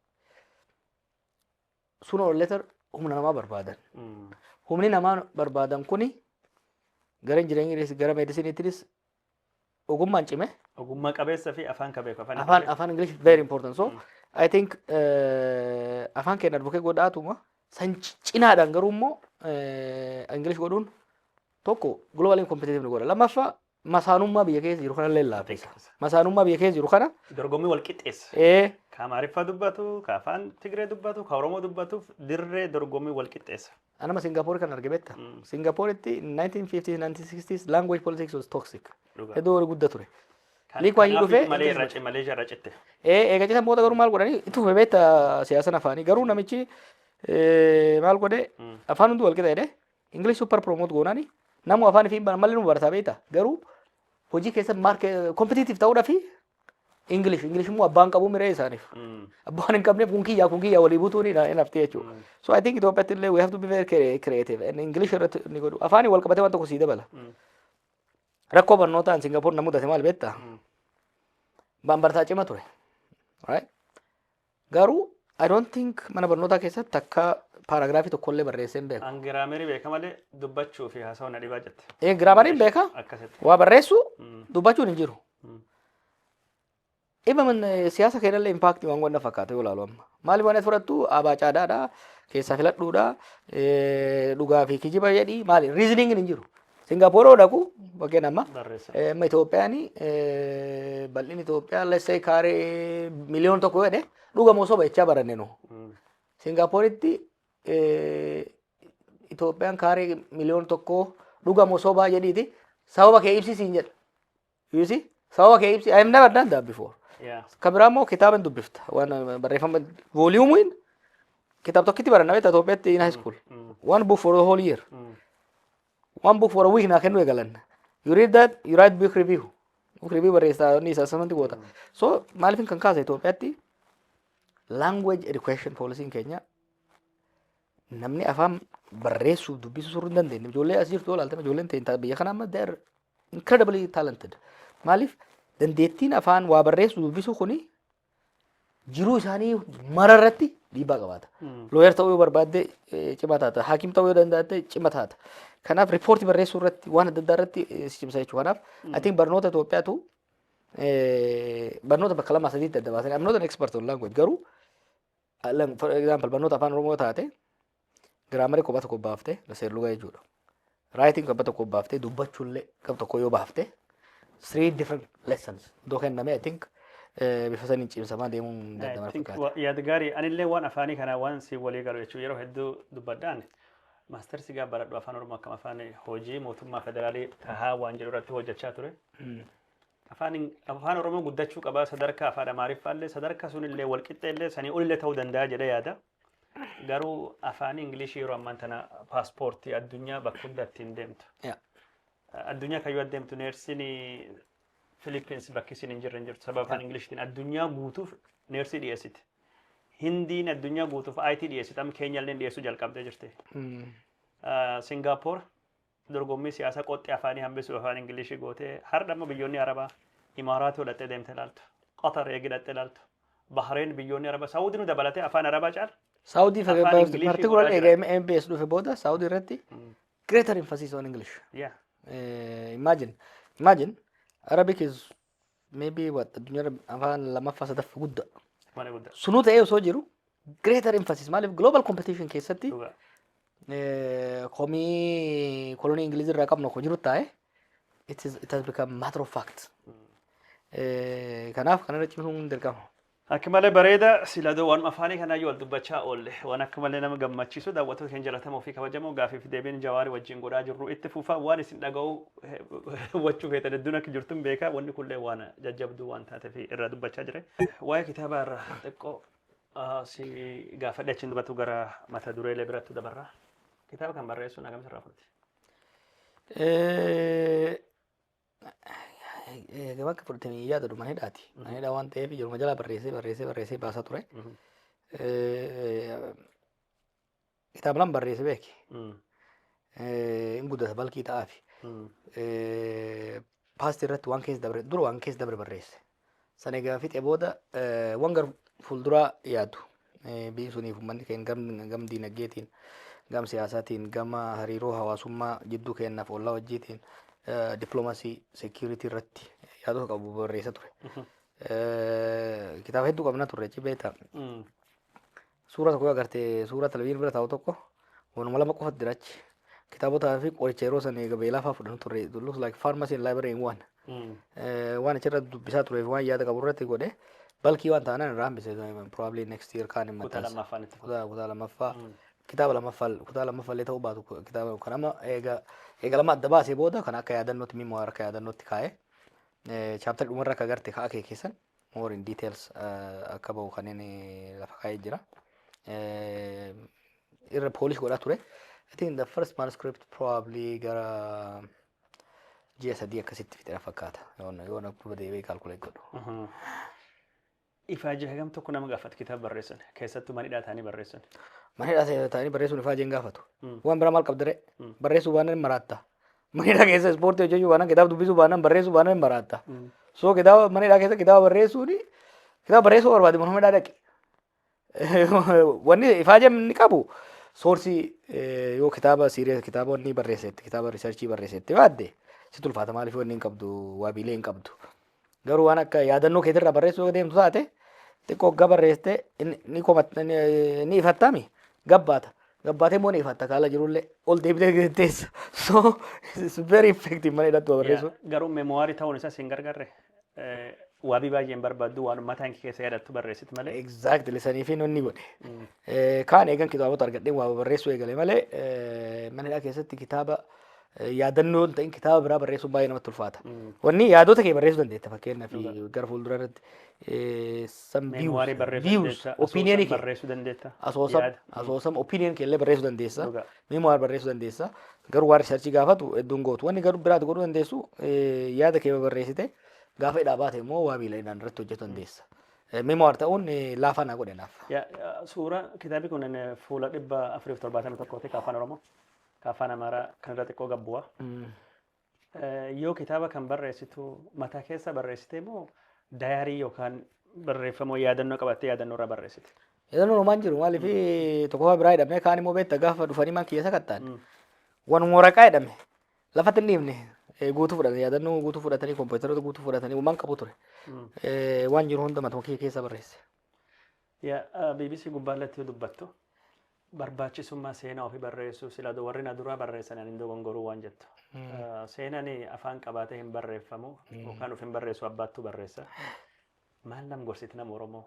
Sooner or later humna namaa barbaadan. Humni namaa barbaadan kuni gara injinariingis gara meedisiniitiinis ogummaan cime. Ogummaa qabeessa fi afaan ka beeku afaan Afaan afaan English very important. So I think eh, afaan keenya advocate godhaatuma san ci- cinaadhaan garuu immoo eh, English godhuun tokko globally competitive nu godha. Lammaffaa masaanummaa biyya keessa jiru kanallee laaffisa. Laaffisa. Masaanummaa biyya keessa jiru kana Dorgommii wal qixxeessa. ee, Ka Amaariffaa dubbatu, ka afaan Tigree dubbatu, ka Oromoo dubbatuuf dirree dorgommii wal qixxeessa. anama Singaapoorii kan arge beekta. Mm. Singaapooreetti 1950s 1960s language politics was toxic. Dhugaa. Hedduu wal gudda ture. Kan- Lee Kuan Yew kanaaf dhufee malee Ingiliz irra Maleeshiyaa irra citte. Ee, eega citan booda garuu maal godhanii itti fufe beekta siyaasan afaanii garuu namichi ee, maal godhe Mm. afaan hundi wal qixa jedhe English super promote goonani namu afaan fi malee nu barata beeta garuu hojii keessa market competitive ta'uudha fi English English immoo abbaan qabu miree isaaniif abbaan hin qabneef kun kiyyaa kun kiyyaa walii butuun hin haftee jechuudha. So I think Itoophiyaatti illee we have to be very crea- creative and English irratti inni godhu afaanii wal qabatee waan tokko sii dabala. Rakkoo barnootaan Singapore na mudate maal beektaa? Baan bartaa cima ture. Right? Garuu I don't think mana barnootaa keessatti takka paaraagiraafii tokkollee barreessee hin beeku. An giraameri beeka malee dubbachuu fi haasawuu na dhibaa jette. Ee giraamariin beeka Akkasitti. waa barreessuu Mm. dubbachuun hin jiru. Mm. Dhimma man- eh, siyaasa keenyallee impaaktii waan wanna fakkaate yoo ilaalu amma. Maali waan ati fudhattu abaa caadaadha keessaa filadhuudha eh, dhugaa fi kijiba jedhi maali riiziniingin hin jiru. Singapore yoo dhaqu bakkeen amma Barreessa. eh, amma Itoophiyaan eh, bal'inni Itoophiyaa let's say kaaree miliyoona tokko jedhe dhuga moo soba jechaa baranne nu. Mm. Singaaporitti eh, Itoophiyaan kaaree miliyoona tokko dhuga moo sobaa jedhiiti sababa kee ibsisiin jedha. You see? Sababa kee ibsi. I have never done that before. Yeah. Kan biraa immoo kitaaba hin dubbifta. Waan uh, barreeffama vooliyuumiin kitaaba tokkitti baranna beektaa Itoophiyaatti in high school. One book for the whole year. One book for a week naa kennuu eegalan. You read that, you write book review. Book review barreessaa inni isa samanti goota. So maaliifin kan kaasa Itoophiyaatti language education policy'n keenya namni afaan barreessuuf dubbisuu suruu hin dandeenye. Ijoollee as jirtu yoo ilaaltan ijoolleen ta'in biyya kanaa amma they're incredibly talented. Maaliif dandeettiin afaan waa barreessu dubbisuu kuni jiruu isaanii mara irratti dhiibbaa qabaata. Looyer ta'uu yoo barbaadde eh, cimaa taata. Haakim ta'uu yoo danda'atte cima taata. Kanaaf riippoortii barreessuu irratti waan adda addaa irratti eh, si cimsa jechuudha. Kanaaf I think barnoota Itoophiyaatu eh, barnoota bakka lamaa sadiitti adda baasanii I'm not an expert on language garuu Alam for example barnoota afaan oromoo taate giraamarii kophaa tokko baafte seerlugaa jechuudha. Raayitiin kophaa tokko baafte dubbachuullee gab tokko yoo baafte three different lessons iddoo kenname I think eh, bifa saniin cimsamaa deemuun I danda'ama think fakkaata. wa- yaad gaarii anillee waan afaanii kana waan si walii galu jechuun yeroo hedduu dubbadhaan maastersi gaa baradhu afaan oromoo akkam afaan hojii mootummaa federaalii tahaa waan jedhu irratti hojjechaa ture. Afaan Afaan Oromoo guddachuu qaba sadarkaa afaan Amaariffaa illee sadarkaa sun illee walqixxee illee sanii ol illee ta'uu danda'a jedhee yaada. Garuu afaan Ingilishii yeroo ammaan tana paaspoortii addunyaa bakka hunda ittiin deemtu. Yeah. Addunyaa kayyoo adeemtu neersiin Filippins bakki isin hin jirre hin jirtu sababa afaan Ingilishtiin addunyaa guutuuf neersii dhiyeessiti. Hindiin addunyaa guutuuf IT dhiyeessiti amma Keenyaallee dhiyeessuu jalqabdee jirti. Mm. Singaapoor Dorgommii siyaasa qoxxi afaanii hambisuuf afaan English goote hardha immoo biyyoonni Arabaa Imaaraat yoo dhaxxee deemte ilaaltu, Qatar eegi dhaxxee ilaaltu, Bahrain biyyoonni Arabaa Saudi nu dabalatee afaan Arabaa caala Saudi afaan fayyadamuu English particular godhaa eega jira. MBS dhufe booda Saudi irratti Mm. greater emphasis on English. Yeah. Eh, imagine imagine Arabic is maybe what addunyaa irra afaan lammaffaa sadaffaa guddaa Mana guddaa. sunuu ta'ee osoo jiru greater emphasis maaliif global competition keessatti Dhugaa. eh, komii kolonii ingilizi irraa qabnu akka jiru taa'e it is- it has become matter of fact Eh, kanaaf kanarra cimsuun dirqama Akk malee bareeda sila do waan afaanii kanaa yoo wal dubbachaa oolle waan akka malee nama gammachiisu daawwattoota keenya jalatamoo fi kabajamoo gaafii fi deebiin jawaari wajjin godhaa jirru itti fufa waan isin dhaga'u hubachuu feetan hedduun akka jirtun beekaa wanni kunillee waan jajjabduu waan taate fi irraa dubbachaa jire. Waa'ee kitaabaa irraa xiqqoo si gaafadhe achiin dubbatu gara mata dureelee biratti dabarra. Kitaaba kan barreessuun akkamitti irraa fudhate? Gabaa akka fudhatanii yaadatu mana hidhaati. Mana hidhaa waan ta'eef ijooluma jalaa barreessee barreessee barreessee baasaa ture. Kitaaba lama barreessee beeke. Hin guddata balkii ta'aafi. Paastii irratti waan keessa dabre dura waan keessa dabre barreesse. San egaa fixe booda wan gar fuulduraa yaadu biyyi suniif uummanni keenya gam, gam diinagdeetiin gam siyaasaatiin gama hariiroo hawaasummaa jidduu keenyaaf ollaa wajjiitiin dippiloomasii seekiyuritii irratti yaadota qabu barreessa ture. Kitaaba hedduu qabna turre ci beektaa. Suuraa tokko yoo agarte suuraa televizyiin bira taa'u tokko waanuma lama qofatu jira achi. Kitaabotaa fi qoricha yeroo san eega beelaa fa'aa fudhannu turre. It looks like pharmacy and library in one. Eh, Waan achirra dubbisaa turee fi waan yaada qabu irratti godhe balkii waan ta'anan irraa hambise probably next year kaan hin Kutaa maxxansa. lammaffaan itti fufa. Kutaa kutaa lammaffaa kitaaba lammaffaa kutaa lammaffaa illee ta'uu baatu ku- kitaaba kan amma eega eega lama adda baasee booda kan akka yaadannootti mimmoo akka yaadannootti kaa'e chaaptarri dhumarra akka agarte kaa'aa kee keessan more in details eh, akka ba'u kan inni lafa kaa'ee jira. Eh, Irra polish godhaa ture. I think the first manuscript probably gara ji'a sadii akkasitti fixera fakkaata. Yoona yoona duuba deebi'ee calculate godhu. Uhum. Ifaajii hagam tokko nama gaafata kitaaba barreessan keessattuu manidhaa ta'anii barreessan. Mana hidhaa ta'anii barreessuun ifaa jeen gaafatu. Waan biraa maal qabdaree? Barreessuu waan hin maraatta. Manidhaa keessa ispoortii hojjechuu baanaan kitaaba dubbisuu baanaan barreessuu baanaan hin baraatta. So kitaaba manidhaa keessa kitaaba barreessuun kitaaba barreessuu barbaade mana hidhaa dhaqi. Wanni ifaajam inni qabu soorsii eh, yoo kitaaba siiree kitaaba wanni barreessetti kitaaba riisarchii barreessetti baadde si tulfaata maaliif wanni hin qabdu waabiilee hin qabdu. Garuu waan akka yaadannoo keetirraa barreessuu deemtu taate xiqqoo hoggaa barreessite ni komatta ni ifattami gabbaata. Gabbaatee immoo ni ifatta kaala jirullee ol deebitee teessa. So it's very effective mana hidhatti barreessu. Garuu memoirii ta'uun isaas hin gargarre. Waabii baay'een barbaaddu waan mataa hin keessa yaadattu barreessit malee. Exactly sanii fi nonni godhe. Kaan eegan kitaabota argadheen waa barreessuu eegale malee mana hidhaa keessatti kitaaba yaadannoo hin ta'in kitaaba biraa barreessuun baay'ee namatti ulfaata. Wanni yaadota kee barreessuu dandeetta fakkeenyaaf gara fuuldura irratti eh, some Meemwaarii views, barreessuu views, dandeessa. opinion asoosama kee barreessuu dandeetta. asoosam yaada. asoosam opinion kee illee barreessuu dandeessa. Dhugaa. Memoir barreessuu dandeessa. Garuu waan riisarchii gaafatu hedduun gootu. Wanni garuu biraati godhuu dandeessu eh, yaada kee barreessite gaafa hidhaa baate immoo waa miilainaan irratti hojjetu dandeessa. Eh, Memoir ta'uun eh, laafaa naa godhe naaf. Ya- ya, Suuraa kitaabni kun eh, fuula dhibba afuriif torbaatamii tokkooti kan afaan Oromoo. ka afaan amaaraa kan irra xiqqoo gad bu'a. Eh, Yoo kitaaba kan barreessitu mataa keessa barreessitee moo dayaarii yookaan barreeffamoo yaadannoo qabattee yaadannoo irraa barreessite? Yaadannoo homaan jiru maaliif tokkoffaa biraa hidhamee kaan immoo beekta gaafa dhufanii man keessa kattaan. Wanuma waraqaa hidhame lafatti hin dhiifne eh, guutuu fudhate yaadannoo guutuu fudhatanii kompiitaroota guutuu fudhatanii waan qabu ture. Mm. Eh, Waan jiru hunda matuma kee keessa barreesse. Ya, ah, BBC gubbaa irratti yoo dubbattu Barbaachisummaa seenaa ofii barreessuu sila odoo warri na duraa barreessanii ani hin dogongoruu waan jettu. Seenani afaan qabaatee hin barreeffamu yookaan of hin barreessu abbaattuu barreessa. Maal nam gorsiti nama Oromoo?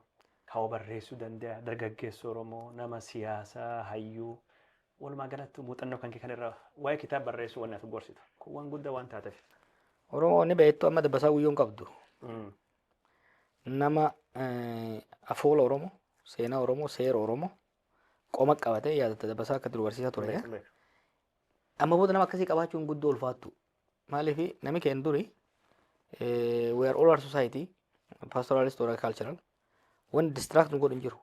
Kawa barreessuu danda'a dargaggeessu Oromoo nama siyaasaa hayyuu walumaa galattuu muuxannoo kan kee kan irraa waa'ee kitaaba barreessuu wanni ati gorsitu kun waan guddaa waan taateef. Oromoo ni beektu amma dabbasaa guyyoo hin qabdu. Nama afoola Oromoo, seenaa Oromoo, seera Oromoo qoma qabate yaadatta dabbasaa akka dur barsiisaa ture. Sirrii, sirrii. Amma booda nama akkasii qabaachuun guddoo ulfaattu. Maaliif nami keenya duri eh, we are all our society pastoralist or cultural wanti distract nu godhu hin jiru.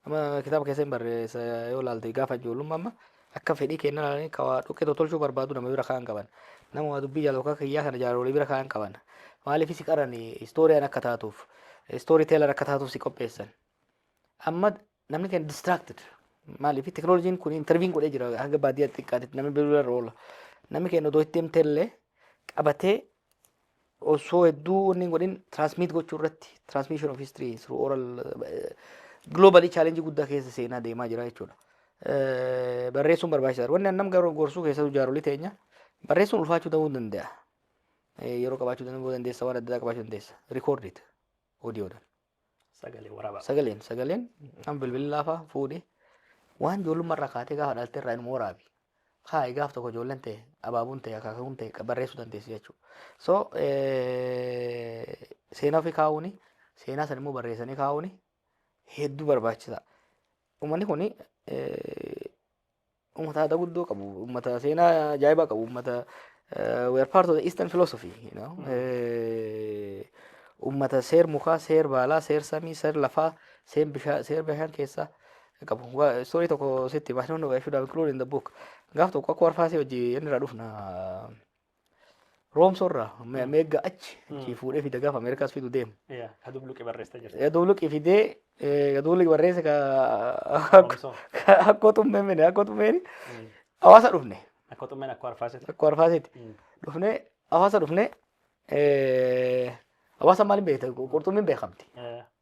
Amma kitaaba keessa hin barreessa yoo ilaalte gaafa ijoollummaa amma akka fedhii keenya ilaalanii ka waa dhukkee tolchuu barbaadu nama bira kaa'an qaban. Nama waa dubbii jaalatu akka kiyyaa kana jaaroolii bira kaa'an qaban. Maaliif si qarani istooriyaan akka taatuuf istoorii teelar akka taatuuf si qopheessan. Amma namni keenya distracted. Maaliif teknooloojiin kun interviin godhee jira hanga baadiyyaa xiqqaatitti namni bilbila irra oola. Namni keenya otoo itti himtee illee qabatee osoo hedduu wanni hin godhin transmit gochuu irratti transmission of history through oral globally challenge guddaa keessa seenaa deemaa jira jechuudha. Eh, Barreessuun barbaachisaadha. Wanni annam garuu gorsuu keessattuu jaarolii teenya barreessuun ulfaachuu ta'uu danda'a. Eh, Yeroo qabaachuu danda'uu dandeessa waan adda addaa qabaachuu dandeessa. Record it. Audio dhaan. Sagalee waraabaa. Sagaleen sagaleen kan bilbilaa fa'aa fuudhi. Waan ijoollummaa irraa kaatee gaafa dhalte irraa inuma waraabi. Kaa'i gaaf tokko ijoolleen ta'e abaabuun ta'e akaakuun ta'e barreessuu dandeessi jechuudha. So seenaa ofii kaa'uuni seenaa sana immoo barreessanii kaa'uuni hedduu barbaachisaa. Uummanni kun Uummata aadaa guddoo qabu, uummata seenaa ajaa'ibaa qabu, uummata we are part of the Eastern philosophy, you know. Eh, uummata seer mukaa, seer baalaa, seer samii, seer lafaa, seer bishaa- seer bishaan keessaa qabu. Wa- Story tokko sitti hima, I don't know, I should have included in the book. Gaaf tokko akka warfaasee hojii inni irraa dhufna Roomsorraa me- meegga achi achii fuudhee fida gaafa Ameerikaas fidu deema. Yaa, ka dubluqi barreessita jirti. Gaduu luqi fidee eh, gaduu luqi barreesse ka Roomsoo. ka- akkoo tummee mine akkoo tummeen hawaasa dhufne Akka xummeen akka arfaasiti. akkoo arfaaseeti dhufne hawaasa dhufne eh, hawaasa maaliin beekta qurxummiin beekamti.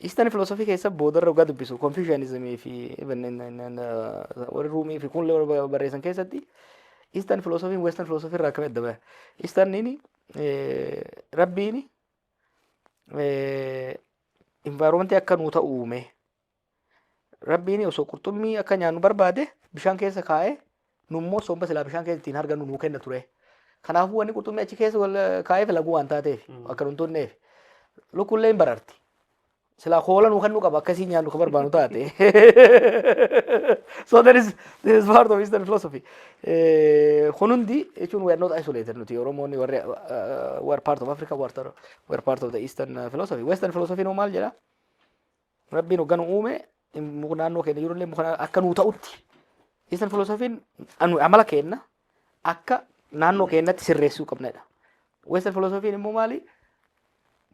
Eastern philosophy keessa boodarra dhugaa dubbisu Confucianism fi even in- in- in, uh, warri Ruumii fi kun illee warra barreessan keessatti Eastern philosophy Western philosophy irraa akkamitti adda baha? Easterniin eh, rabbiin eh, environment akka nuu ta'u uume Rabbiin osoo qurxummii akka nyaannu barbaade bishaan keessa kaa'ee nummoo somba silaa bishaan keessa ittiin hargannu nuu kenna ture. Kanaafuu wanni qurxummii achi keessa wal kaa'eef laguu waan taateef akka nun tunneef lukkullee hin bararti. Silaa koola nuu kennuu qaba akkasii nyaannu kan barbaannu taate. So that is this is part of Eastern philosophy. Eh, Kun hundi jechuun we are not isolated nuti Oromoonni warri uh, we are part of Africa we are, we are part of the Eastern uh, philosophy. Western philosophy noo maal jedhaa? Rabbiin hogga nu uume muka naannoo keenya jirullee muka akka nuu ta'utti Eastern philosophiin anu- amala keenna akka naannoo keenyatti sirreessuu qabnedha. Western philosophiin immoo maali?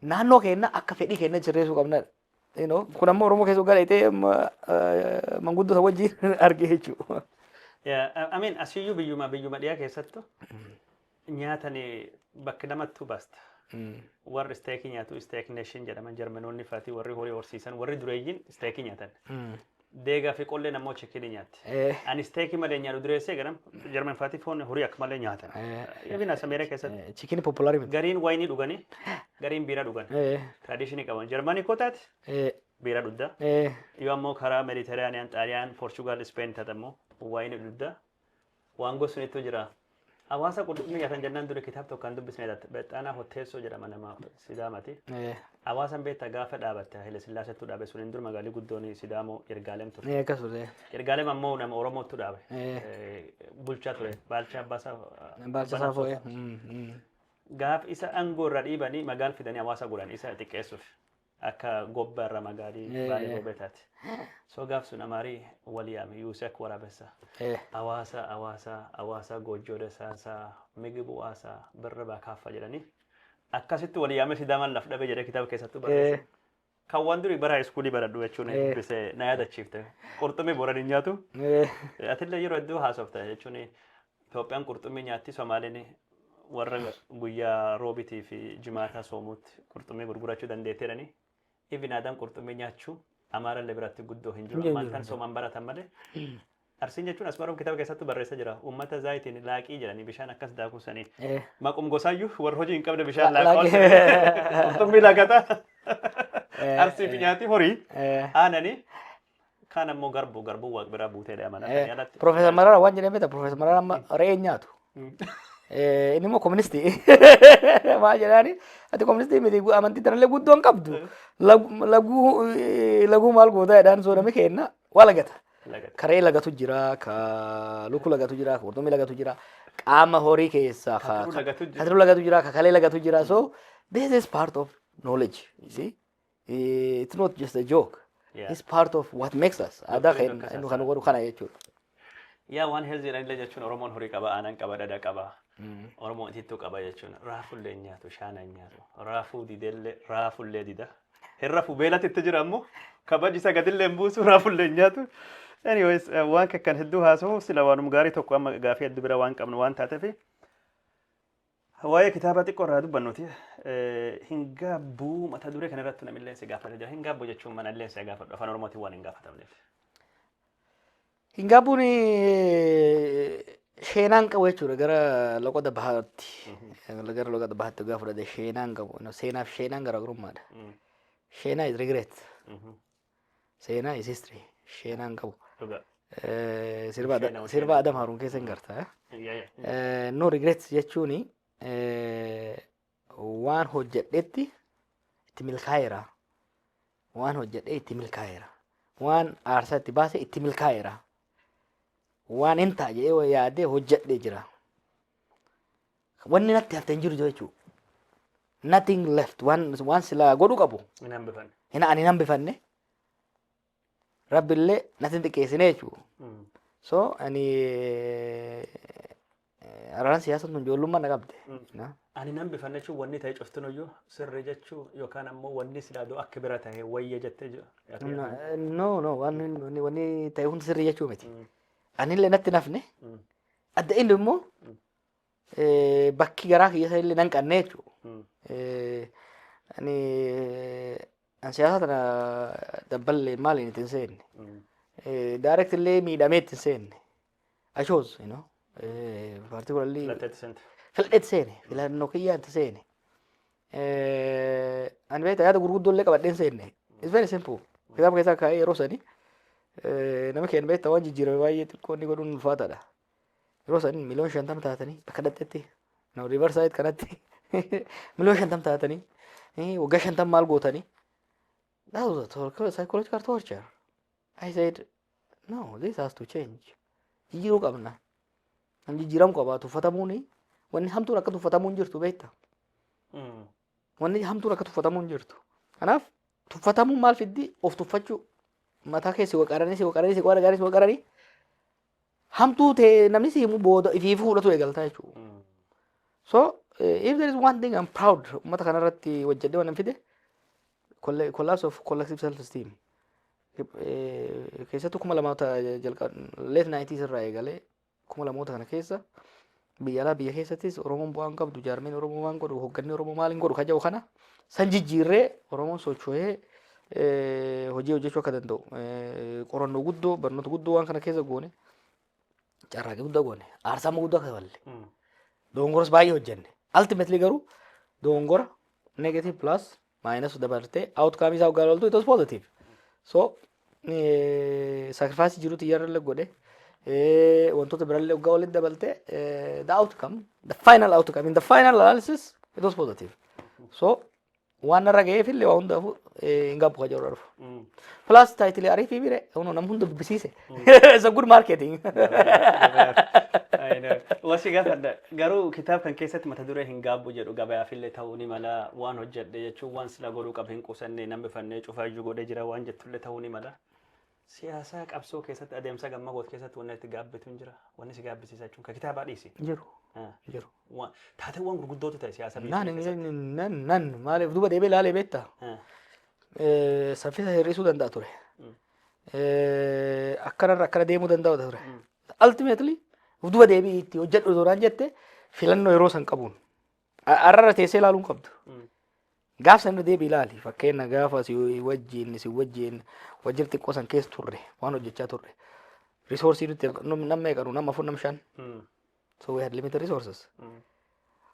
Naannoo keenna akka fedhii keenyatti sirreessuu qabnedha. You know, Kun ammoo Oromoo keessa gara itee manguddota wajjin argee jechuudha. Yeah, I I mean, asiyyuu biyyuma biyyuma dhiyaa keessattu nyaatani bakki namattu basta. Warri isteekii nyaatu isteek neeshin jedhaman jarmanoonni fati warri horii horsiisan warri dureeyyiin isteekii nyaatan. Deegaa fi qolleen ammoo chikinii nyaatti. Eh. Ani isteekii malee nyaadhu dureessee ganam jarman fati foon horii akka malee nyaatan. Eh. Even as Ameerikaa keessatti Chikin populaari miti. gariin waayinii dhuganii gariin biiraa dhugan. Eh. Tradishinii qaban jarmanii koo taate Eh. biiraa dhugda. Eh. Yoo ammoo karaa Mediteraaniyaan, Xaaliyaan, Poorchugaal, Ispeen taate ammoo waayinii dhugda. Waan gosu nittu jira. Hawaasa qurxummii nyaatan jennaan dura kitaab tokko kan dubbisne Bexxaanaa Hotteessoo jedhama nama Sidaamati. Eh, Hawaasan beektaa gaafa dhaabatte Haile Sillaaseetu dhaabe suniin dura magaalli guddoon Sidaamoo Yirgaalem ture. eh, akkas ture. Yirgaalem ammoo nama Oromootu dhaabe. Eh. Eh, Bulchaa ture. Baalchaa Abbaasaa. Baalcha isaa foo'ee. Mm, mm. Gaaf isa aangoo irra dhiibanii magaal fidanii hawaasa godhan isa xiqqeessuuf. Akka gobba irra magaali Eh. baale gobe taate. So gaaf sun amaari wal yaame yuuse akka waraabessa. Eh. Awaasa awaasa awaasa goojjoo dasaasa migibu waasa birra baa kaaffa jedhanii. Akkasitti wal yaame sidaamaan laf dhabe jedhee kitaaba keessattuu barreesse. Eh. Kan waan durii bara iskuulii baradhu jechuun Eh. dubbise na yaadachiifte. Qurxummii booranii nyaatu. Eh. Atillee yeroo hedduu haasofta jechuun Itoophiyaan qurxummii nyaatti, Somaaleen warra guyyaa Roobitii fi Jimaataa soomuutti qurxummii gurgurachuu dandeetti jedhani. Even aadaan qurxummii nyaachuu Amaarallee biratti guddoo hin jiru. Ammaan tan soomaan baratan malee. Arsiin jechuun Asmaroom kitaaba keessattuu barreessa jira. Uummata zaayitiin laaqii jedhanii bishaan akkas daakuu saniin. Maqum gosaayyuu warra hojii hin qabne bishaan laaqaa. Qurxummii laaqata. Arsii fi nyaati horii aananii Kaan ammoo garbuu garbuu waaq biraa buutee dha mana kan yaalatti. Profeesar Mararaa waan jedhame ta Profeesar Mararaa amma re'ee hin nyaatu. Eh, Inni immoo koministii. Maa jedhaani ati koministii miti gu- amantii tanallee guddoo hin qabdu. Lagu- Laguu eh, laguu maal gootaa jedhaan soodame keenna waa lagata. Lagata. Ka re'ee lagatu jira, ka luku lagatu jira, ka qurxummii lagatu jira, qaama horii keessaa ka Katiruu lagatu jira. katiruu lagatu jira, ka kalee lagatu jira. So this is part of knowledge. You see? Eh, It's not just a joke. Yeah. It's part of what makes us. Aadaa Doktorii keenya Doktor inni kan godhu kana jechuudha. Yaa waan heelziidhaan illee jechuun Oromoon horii qaba, aanan qaba, dhadha qaba. Oromoon itittuu qaba jechuun raafuu illee hin nyaatu, shaana hin nyaatu. Raafuu didee illee raafuu illee dida. Hin rafu beelatti itti jira ammoo kabaji isa gadi illee hin buusu raafuu illee hin nyaatu. Anyways eh, waan kan hedduu haasa'u sila waanuma gaarii tokko amma gaafii addu bira waan qabnu waan taateef Waa'ee kitaaba xiqqoo irraa dubbannuti hin gaabbuu mata duree kana irratti namillee si gaafata jira. Hin gaabbuu jechuun mana illee si gaafadhu afaan oromootiin waan hin gaafatamneef. Hin gaabbuun sheenaan qabu jechuudha gara loqoda bahaatti. Gara loqoda bahaatti gaafa fudhate sheenaan qabu. Seenaaf sheenaan garaagarummaadha. Sheenaa is regret. seenaa is history sheenaan qabu Dhugaa. Eh, sirba Adam- Sheenaa, sirba sheenaa. adam haruun keessa hin garta eh? Yaa, yaa. Eh, no regrets jechuun eh, waan hojjedhetti itti milkaa'eera waan hojjedhe itti milkaa'eera waan aarsaa itti baase itti milkaa'eera waan hin ta'a jedhee yaadee hojjedhe jira Wanni natti hafte hin jiru jechuu. Nothing left. Waan, waan silaa godhu qabu. Hin hambifanne. Hin, ani hin hambifanne. Rabbillee natti hin xiqqeessine jechuu. Mm. So, ani eh, araaraan siyaasa tun ijoollummaa na qabde. Na? Ani hin hambifanne jechuun wanni ta'e cuftin iyyuu sirri jechuu yookaan ammoo wanni silaa doo akka bira ta'e wayya jettee jiru. Na- No, no, waan wanni- wanni ta'e hundi sirrii jechuu miti. Anillee natti hin hafne. Mm. Adda inni immoo eh, bakki garaa kiyya isa illee nan qanne jechuudha. Mm. Eh, ani an siyaasa tana dabballee maaliin itti hin seenne. Mm. Eh, direct illee miidhamee itti hin seenne. I chose, you know. Eh, particularly Filatteetti seente. filadheetti seene. Filannoo kiyyaan itti seene. Eh, ani beektaa yaada gurguddoo illee qabadhee hin seenne. It's very simple. Kitaaba keessaa kaa'ee yeroo sani eh, nama keenya beektaa waan jijjiirame baay'ee xiqqoo inni godhuun ulfaataadha. Yeroo san miliyoon shantama taatanii akka dhaqxetti no river side kanatti miliyoon shantama taatanii eh, waggaa shantama maal gootanii that was a tor- psychological torture I said no this has to change jijjiiruu qabna nam jijjiiramu qaba tuffatamuuni wanni hamtuun akka tuffatamuun jirtu beekta Mm. wanni hamtuun akka tuffatamuun jirtu kanaaf tuffatamuun maal fiddi of tuffachuu mataa keessi waqaranii si waqaranii si qola gaarii si waqaranii hamtuu ta'e namni si himu booda ifii fuudhatu eegaltaa jechuudha. So eh, if there is one thing I'm proud uummata kanarratti hojjedhee waan hin fide colla- collapse of collective self esteem. Eh, Keessattuu kuma lamoota jalqaba late 90s irraa eegalee kuma lamoota kana keessa Biyya alaa biyya keessattis Oromoon bu'aa hin qabdu jaarmeen Oromoo waan godhu hogganni Oromoo maal hin godhu kan jedhu kana san jijjiirree Oromoon socho'ee eh, hojii hojjechuu akka danda'u eh, qorannoo guddoo barnoota guddoo waan kana keessa goone carraaqii guddaa goone aarsaa amma guddaa kafalle doongoras baay'ee hojjenne ultimately garuu doongora negative plus maayinas dabartee outcome isaa hoggaa loltu it was positive. So sacrifice jirutu iyyarralle godhe wantoota birallee hoggaa walitti dabaltee the outcome the final outcome in the final analysis it was positive. So waan narra ga'eef illee waa hundaafuu hin gaabbu ka jedhu dhufu. Plus taayitilee ariifii bire nam hunda dubbisiise. It's a good marketing. Wasi gaafadha. Garuu kitaaba kan keessatti mata duree hin gaabbu jedhu gabayaafillee ta'uu ni mala waan hojjedhe jechuun waan sila godhuu qabu hin qusanne namni fannee cufaa iyyuu godhee jira waan jettullee ta'uu ni mala. Siyaasaa qabsoo keessatti adeemsa gamma goot keessatti wanni itti gaabbitu hin jira. Wanni si gaabbisiisa jechuun kan kitaabaa dhiisi. Jiru. Ah. Jiru. Waan- Taateewwan gurguddootu ta'e siyaasa biyya Nan keessatti. nan nan maaliif duuba deebee ilaalee beektaa? Ah. Eh, Saffisa hir'isuu danda'a ture. Mm. eh, akkanarra akkana deemuu danda'u ture. Ultimately of duba deebi'i itti hojjedhu duraan jette filannoo yeroo san qabuun. A- Arrarra teessee ilaaluu hin qabdu. Gaaf sana deebi ilaali fakkeenya gaafa si wajjin si wajjin wajjin xiqqoo san keessa turre waan hojjechaa turre. Risoorsii nuti namni meeqanu nama afur nama shan. So we had limited resources.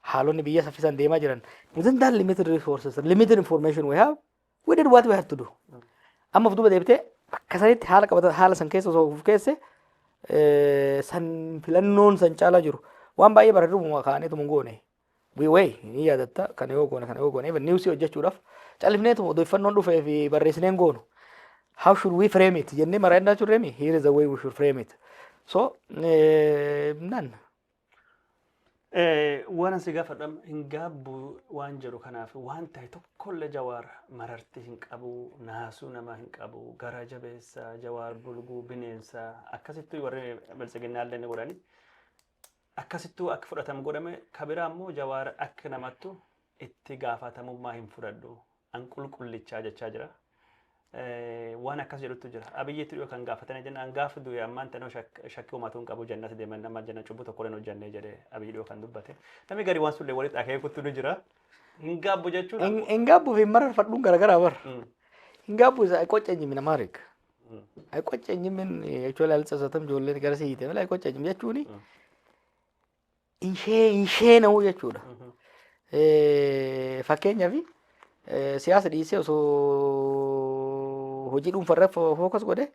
haalonni biyya saffisaan deemaa jiran within that limited resources limited information we have We did what we had to do. Amma of duuba deebitee akka sanitti haala qabata haala san keessa osoo of keesse eh, san filannoon san caalaa jiru waan baay'ee bareeduma kaa'aniitu mun goone. We way ni yaadatta kana yoo goone kana yoo goone even niwsii hojjechuudhaaf callifneetu odeeffannoon dhufee fi barreessineen goonu. How should we frame it jennee maraannaa turreemi here is the way we should frame it. So eh, none. Eh, Waan asi gaafadha hin gaabbu waan jedhu kanaaf waan ta'e tokkollee jawaar mararti hin qabu naasuu namaa hin qabu garaa jabeessa jawaar bulguu bineensa akkasittuu warri biltsiginnaallee ni godhani akkasittuu akka fudhatamu godhame kabiraa immoo jawaar akka namattu itti gaafatamummaa hin fudhadhu an qulqullichaa jechaa jira. Waan akkas jedhutu jira. Abiyyiitti dhiyoo kan gaafatanii jenna an gaafa du'e ammaan tanoo shakkii uumatuu hin qabu jannatti deeman nama janna cubbuu tokko hin hojjannee jedhee abiyyi dhiyoo kan dubbate. Namni gari waan sullee walitti akeekutu ni jira. Hin gaabbu jechuun. Hin gaabbu fi mararfadhuun garaagaraa bar. Hin gaabbu isa qocca jimina maarik. Qocca jimin jechuun ilaalcha isaatan ijoolleen gara siite mala qocca jim jechuun hin sheena'u jechuudha. Fakkeenyaaf siyaasa dhiisee osoo hojii dhuunfarra fookas godhe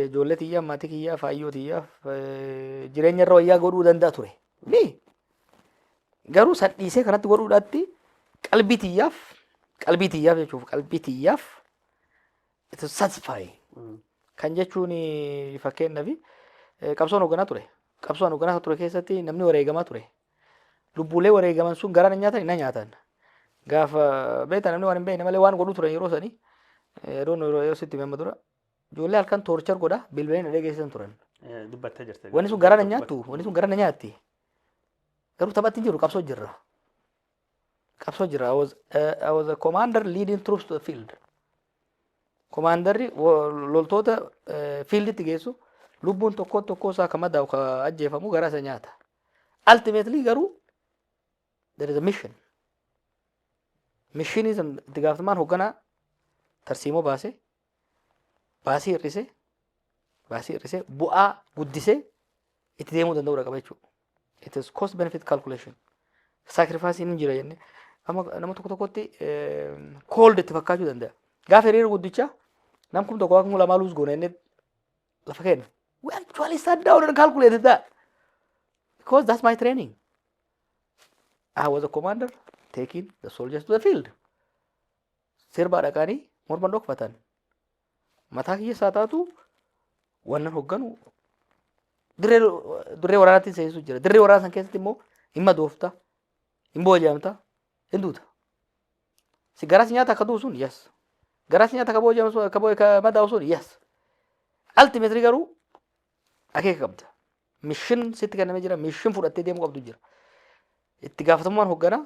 ijoollee tiyyaa maatii kiyyaa faayyoo tiyyaa jireenya irra wayyaa godhuu danda'a ture. Garuu san dhiisee kanatti godhuudhaatti qalbii tiyyaaf qalbii tiyyaaf jechuuf qalbii tiyyaaf It is satisfying. Kan jechuun fakkeenyaaf eh, qabsoon hoogganaa ture. Qabsoon hoogganaa ture keessatti namni wareegamaa ture. Lubbuulee wareegaman sun garaa na nyaatan na nyaatan. Gaafa beektan namni waan hin beekne malee waan godhu turan yeroo sanii eh, adoon yeroo yeroo sitti himama dura. Ijoollee halkan toorchar godha bilbileen na dhageessisan turan. Eh, Dubbattee jirte. Wanni sun garaa na nyaattu wanni sun garaa na nyaatti. Garuu taphatti hin jiru qabsoo jirra. qabsoo jira. I was, uh, I was a commander leading troops to the field. Komaandarri wo- loltoota eh, fiilditti geessu lubbuun tokko tokkoo isaa kan madaa'u kan ajjeefamu garaa isa nyaata. Ultimately garuu there is a mission. Mishinii san itti gaafatamaan hoogganaa tarsiimoo baase baasii hir'isee baasii hir'isee bu'aa guddisee itti deemuu danda'uudha qaba jechuudha. It is cost benefit calculation. Saakrifaasiin hin jira jennee amma nama tokko tokkotti cold itti fakkaachuu danda'a. Gaafa hiriira guddicha nam kum tokko akkuma lamaa luus goona jennee lafa kenna. We actually sat down and calculated that because that's my training. I was a commander taking the soldiers to the field. sirbaa dhaqaanii morma dhokfatan mataa kiyya isaa taatu wannan hogganu dirree dirree waraanaatti seensu jira dirree waraana san keessatti immoo hin madoofta hin booji'amta hin duuta si garaa si nyaata akka du'u sun yes garaa si nyaata akka booji'amu sun akka boo- akka madaa'u sun yes ultimately garuu akeeka qabda mishin sitti kennamee jira mishin fudhattee deemuu qabdu jira itti gaafatamummaan hoogganaa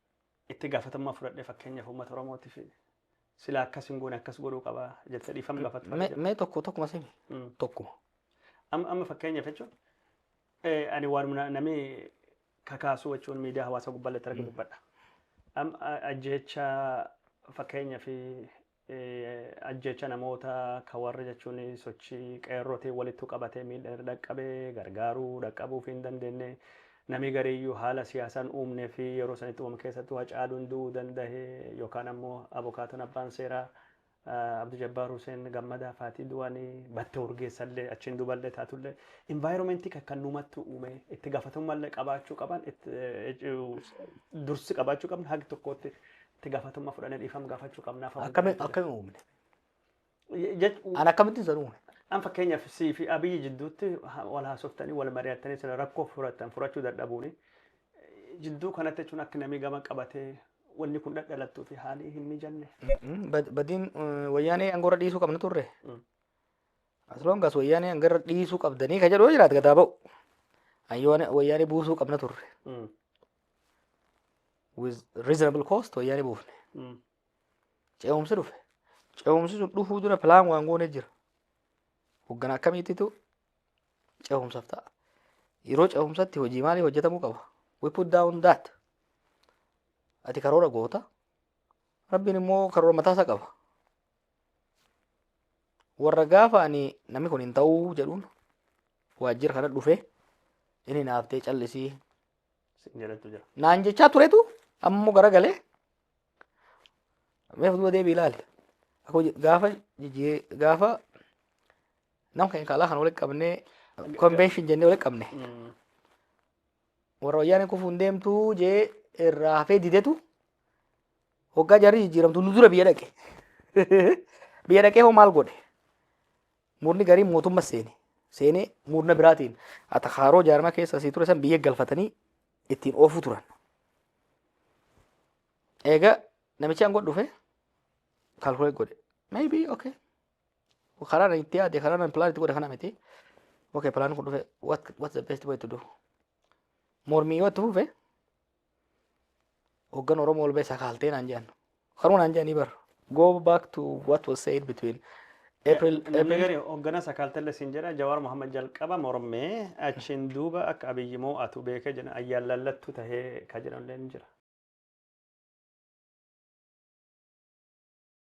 itti gaafatamummaa fudhadhee fakkeenyaaf uummata Oromootiif silaa akkas hin goone akkas godhuu qaba jettee dhiifama gaafattu fa'aa Mee jira. mee tokko tokkuma simi. Mm. Tokkuma. Amma amma fakkeenyaaf jechuun eh, ani waanuma na- namni kakaasuu jechuun miidiyaa hawaasaa gubbaa irratti arga dubbadha. Amma ajjeecha fakkeenyaaf Ajjeecha namoota ka warra jechuun sochii qeerrootiin walittu qabatee miidhan irra dhaqqabe gargaaruu dhaqqabuufii hin dandeenne. Namii gariiyyuu haala siyaasaan uumnee fi yeroo sanitti uumame keessattuu Hacaaluun du'uu dandahe yookaan ammoo abokaatoon abbaan seeraa Abdu Jabbaar Huseen Gammadaa faatii du'anii battee urgeessallee achiin duballee taatullee environmentii kakkannumattuu uumee itti gaafatamummallee qabaachuu qaban dursi qabaachuu qabna hagi tokkootti itti gaafatamummaa fudhannee dhiifama gaafachuu qabna. afaan Akkami Waaqayyoo akkami uumne? jedha. Je- je- An akkamittiin san uume? An fakkeenyaaf sii fi abiyyi jidduutti ha- wal haasoftanii wal mari'attanii sila rakkoo furatan furachuu dadhabuuni jidduu kanatti jechuun akka namni gama qabatee wanni kun dhadhalattuu fi haalii hin mijanne. Mm, bad- Badiin eh, wayyaanee angoorra dhiisuu qabna turre. Mm. Asloongaas wayyaanee angarra dhiisuu qabdanii ka jedhu yoo jiraate gadaa ba'u. Ayyoone wayyaanee buusuu qabna turre. Mm. with reasonable cost wayyaanee buufne Mm. ce'umsi dhufe ce'umsi sun dhufuu dura pilaan waan goone jira hoggana akkamiittitu ce'umsaaf ta'a yeroo ce'umsatti hojii maalii hojjetamuu qaba we put down that ati karoora goota rabbiin immoo karoora mataa isaa qaba warra gaafa ani namni kun hin ta'uu jedhuun waajjira kana dhufe inni naaftee callisii sin jedhetu jira. Naan jechaa turetu amma immoo garagalee meef duuba deebii ilaali. Akka hojii- Gaafa jijjii- gaafa nam keenya kaalaa kan walitti qabnee konvenshin jennee walitti qabne Mm. warra wayyaanee kufuun deemtuu jee irraa hafee didetu hoggaa jarri jijjiiramtu nu dura biyya dhaqe. Biyya dhaqee hoo maal godhe? Murni gariin mootummas seene. Seenee murna biraatiin atakaaroo jaarmaa keessa asii ture san biyya galfatanii ittiin oofuu turan. Eega namichi aangoo dhufe kaalkulee godhe. Maybe okay. Karaa nan itti yaade karaa nan pilaan itti godhe kana miti. Okay pilaan kun dhufe what what's the best way to do? Mormii yoo itti fufe Hoggan Oromoo ol ba'e sakaaltee naan jedhan. Kanuma naan jedhanii bar. Go back to what was said between April, Namni April gari hoggana sakaaltelle siin jedha Jawaar Mohaammed jalqaba mormee achiin duuba akka Abiyyi moo'atu beekee jedhan ayyaan lallattuu tahee ka jedhanillee ni jira.